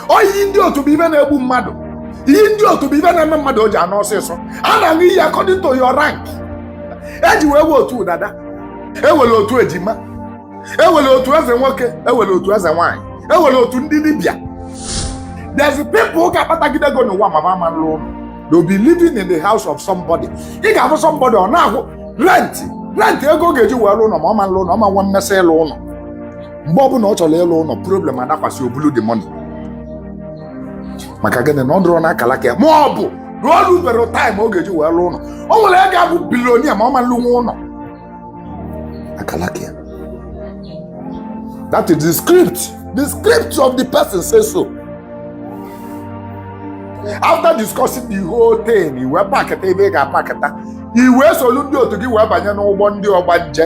ọ iyi ndị otu bụ ive na-egbu mmadụ iyi ndị otu bụ ive na-eme mmadụ o ji anwụ ọsịsọ a na-aṅụ iyi according to your rank eji wee wee otu dada ewere otu ejima ewere otu eze nwoke ewere otu eze nwaanyị ewere otu ndị dibịa there's people ga-akpatagide ego n'ụwa ma ma lụ ụnọ they'll be living in the house of somebody ị ga-afụ somebody ọ na-akwụ rent ego ọ ga-eji wee lụ ụnọ ma ọ ma lụ ụnọ ọ ma nwe mmesị ịlụ ụnọ mgbe ọ bụna ọ chọlụ ịlụ ụnọ problem adakwasị o bulu the money maka gịnị na ọ dịrọ na akala aka ya ma ọ bụ na o rubere time ọ ga-eji wee lụọ ụnọ o nwere ga-abụ billionaire ma ọ ma lụnwe ụnọ akala aka ya that is the script the script of the person say so after discussing the whole thing i wee pakịta ive ị ga-apakịta i wee solu ndị otu gị wee banye n'ụgbọ ndị ọgbanje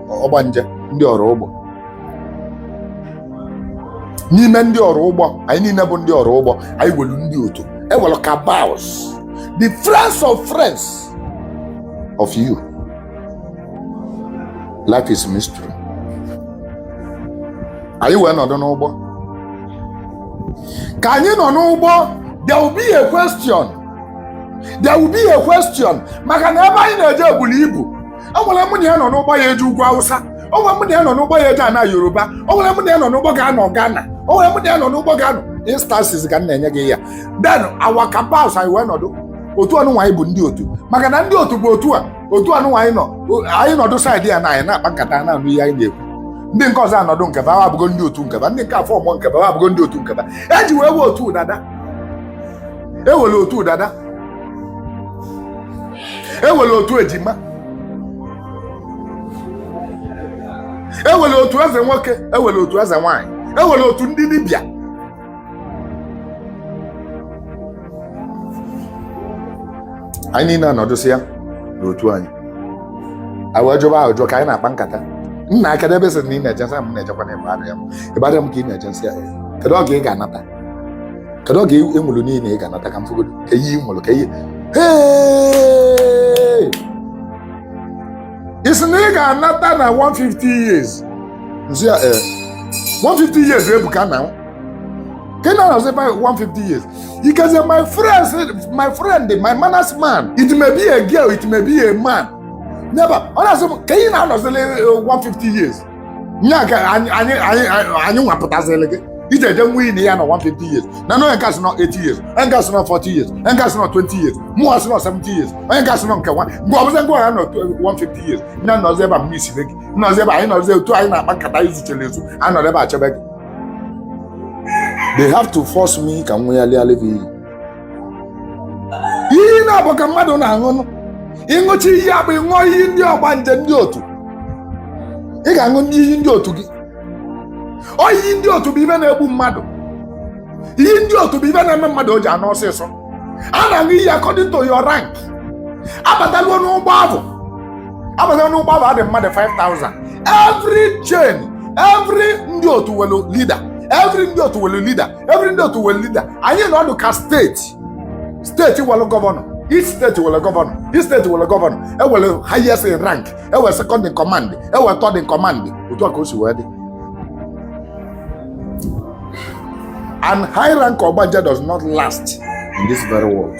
ọgbanje ndị ọrụ ụgbọ n'ime ndị ọrụ ụgbọ anyị niile bụ ndị ọrụ ụgbọ anyị welu ndị otu ewelu cabals the friends of friends of you life is mystery anyị wee nọdụ n'ụgbọ ka anyị nọ n'ụgbọ there will be a question there will be a question maka na ebe anyị na-eje bulu ibu o nwere mụ na ya nọ n'ụgbọ ya eje ugwu awụsa o nwere mụ na ya nọ n'ụgbọ ya eje ana yoruba o nwere mụ na ya nọ n'ụgbọ ga-anọ ghana o nwere mụ na ya nọ n'ụgbọ ga-anọ instances ka m na-enye gị ya then our cabals anyị wee nọdụ otu ọnụnwa anyị bụ ndị otu maka na ndị otu bụ otu a otu ọnụnwa anyị nọ anyị nọdụ side ya na anyị na-akpa nkata na-anụ ihe anyị na-ekwu ndị nke ọzọ anọdụ nke ba abụgo ndị otu nke ba ndị nke afọ ọmụ nke ba abụgo ndị otu nke ba eji wee wee otu dada ewere otu dada ewere otu ejima ewere otu eze nwoke ewere otu eze nwanyị ewere otu ndị dibịa anyị niile anọdụsịa n'otu anyị anyị wee jụba ajụjụ ka anyị na-akpa nkata nna kedụ ebe ị sị na ị na-eje sị m na-ejekwa na ebe adịghị m ebe adịghị m ka ị na-eje m sị ya kedụ oge ị ga-anata kedu oge enwelu niile ị ga-anata ka m fụgodu ka ihe ị nwere ka ihe ị sị na ị ga-anata na 150 years m sị ya ee 150 years ebuka na ke na na-azụ ebe 150 years you can say my friend said- my friend my manners man it may be a girl it may be a man never ọ na-asị m ka ị na-anọzili eh, 150 years nya ka anyị anyị anyị anyị nwapụtazịrị gị ị jee je ṅụa iyi na ya nọ 150 years na na onye nke a sị nọ 80 years onye nke a sị nọ 40 years onye nke a sị nọ 20 years mụ asị nọ 70 years onye nke a sị nọ nke nwa mgbe ọbụla ngwa ya nọ 150 years nna nọzi ebe a mma isire gị nọzi ebe a, anyị nọzi otu anyị na-akpa nkata anyị zuchere ezu anyị nọrọ ebe a chebe gị they have to force me ka m ṅụgharịa live iyi iyi naabọ ka mmadụ na-aṅụnụ ị ṅụchaa iyi akpụ ị ṅụọ iyi ndị ọgbanje ndị otu ị ga-aṅụnụ iyi ndị otu gị ọ iyi ndị otu bụ ive na-egbu mmadụ iyi ndị otu bụ ive na-eme mmadụ o ji anwụ ọsịsọ a na-aṅụ iyi according to your rank a bataluo n'ụgbọ ahụ a bataluo n'ụgbọ ahụ a dị mmadụ 5000 every chain every ndị otu welu leader every ndị otu welu leader every ndị otu welu leader anyị nọdụ ka state state welu governor each state welu governor each state welu governor e welu highest in rank e welu second in command e welu third in command otu a ka o si wee dị and high rank ọgbanje does not last in this very world